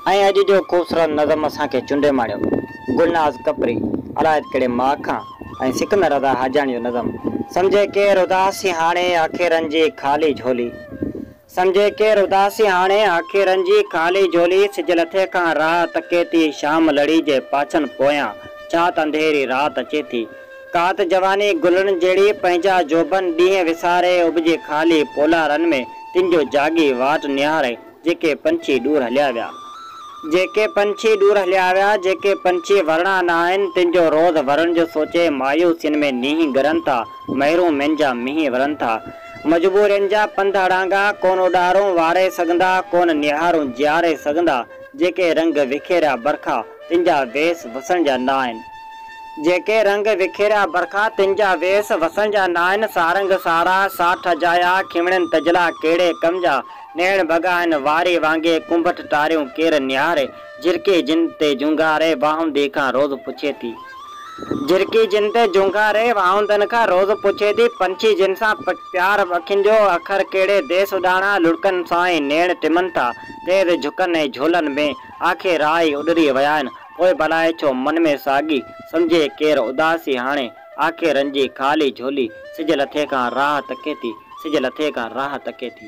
۽ اڄ جو خوبصورت نظم اسان کي چنڊي ماڻيو گلناز ڪپري الايت ڪهڙي ماء کان ۽ سڪندر رضا حاجاڻي جو نظم سمجهي ڪير اداسي هاڻي آکي رنجي خالي جهولي سمجهي ڪير اداسي هاڻي آکي رنجي خالي جهولي سج لٿي کان راهه تڪي ٿي شام لڙي جي پاڇن پويان چات انڌيري رات اچي ٿي ڪات جواني گلن جهڙي، پنهنجا جوڀن ڏينهن وساري، اڀجي خالي پولارن ۾ تن جو جاڳي واٽ نهاري، جيڪي پنڇي ڏور هليا ويا. جيڪي پنڇي ڏور هليا ويا، جيڪي پنڇي ورڻا نه آهن، تن جو روز ورڻ جو سوچي، مايوسين ۾ نينهن ڳرن ٿا، محرومين جا مينهن ورن ٿا، مجبورين جا پنڌ اڙانگا، ڪونه اڏارون واري سگهندا، ڪونه نهارون جياري سگهندا، جيڪي رنگ وکيريا برکا، تن جا ويس وسڻ جا ناهن. جيڪي رنگ وکيريا برکا، تن جا ويس وسڻ جا ناهن. سارنگ سارا، ساٺ اجايا، کمڻين تجلا ڪهڙي ڪم جا. نيڻ ڀڳا آهن واري وانگي، ڪنڀٽ ٽاريون ڪير نهاري. جهرڪي جن تي جهونگاري، واهوندي کان روز پڇي ٿي. جهرڪي جن تي جهونگاري، واهوندن کان روز پڇي ٿي. پنڇي جن سان پيار اکين جو، اکر ڪهڙي ديس اڏاڻا. لڙڪن سان ئي نيڻ ٽمن ٿا، تيز جهڪن ۽ جهولن ۾. آکي راء اڏري ويائين، پوء بلائي ڇو من ۾ ساڳي، سمجهي ڪير اداسي هاڻي، آکي رنجي خالي جهولي، سج لٿي کان راهه تڪي ٿي، سج لٿي کان راهه تڪي ٿي.